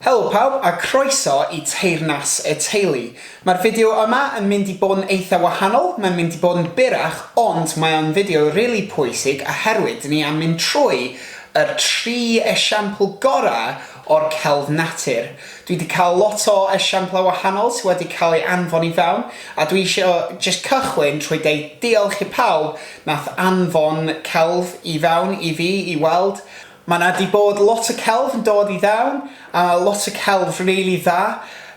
Helo pawb a croeso i Teyrnas y Teulu. Mae'r fideo yma yn mynd i bod yn eitha wahanol, mae'n mynd i bod yn byrrach ond mae o'n fideo rili pwysig oherwydd dyn ni am mynd trwy yr tri esiampl gorau o'r celf natur. Dwi di cael lot o esiamplau wahanol sy wedi cael ei anfon i fewn a dwi isio jyst cychwyn trwy deud diolch i pawb nath anfon celf i fewn i fi i weld, Mae 'na 'di bod lot o celf yn dod i fewn, a lot o celf rili dda,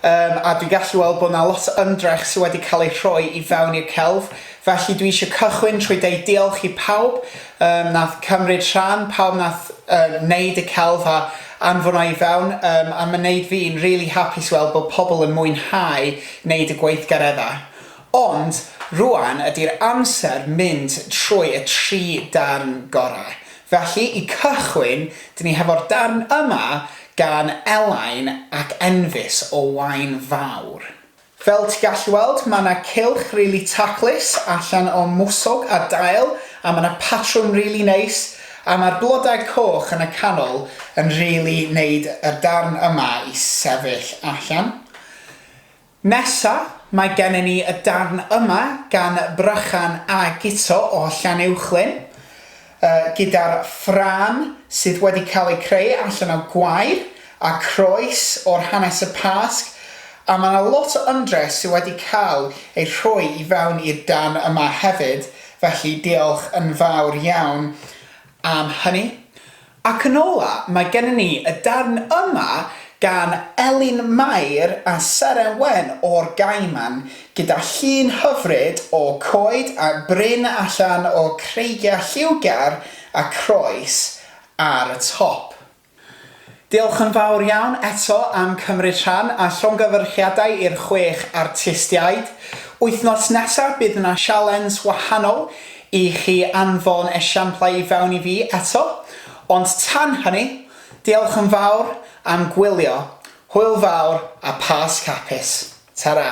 yym a dwi'n gallu weld bod 'na lot o ymdrech sy' wedi cael ei rhoi i fewn i'r celf, felly dwi eisiau cychwyn trwy deud diolch i pawb yym wnaeth cymryd rhan, pawb wnaeth yy wneud y celf a anfon o i fewn, yym a mae'n wneud fi'n rili hapus i weld bod pobl yn mwynhau wneud y gweithgareddau. Ond, rŵan ydi'r amser mynd trwy y tri darn gorau. Felly, i cychwyn, dyn ni hefo'r darn yma gan Elain ac Enfys o Waun Fawr. Fel ti gallu weld, ma' 'na cylch rili taclus allan o mwsog a dail, a ma' 'na patrwm rili neis, a ma'r blodau coch yn y canol yn rili neud y darn yma i sefyll allan. Nesa, mae gennym ni y darn yma gan Brychan a Guto o Llanuwchllyn, gyda'r ffrâm sydd wedi cael eu creu allan o gwair a croes o'r hanes y Pasg, a mae yna lot o ymdrech sydd wedi cael ei rhoi i fewn i'r darn yma hefyd, felly diolch yn fawr iawn am hynny. Ac yn ola, mae gennym ni y darn yma gan Elin Mair a Seren Wen o'r Gaiman, gyda llun hyfryd o coed a bryn allan o creigiau lliwgar a croes ar y top. Diolch yn fawr iawn eto am cymryd rhan a llongyfarchiadau i'r chwech artistiaid. Wythnos nesaf bydd 'na sialens wahanol I chi anfon esiamplau i fewn i fi eto, ond tan hynny, diolch yn fawr am gwylio, hwyl fawr a Pasg hapus. Tara!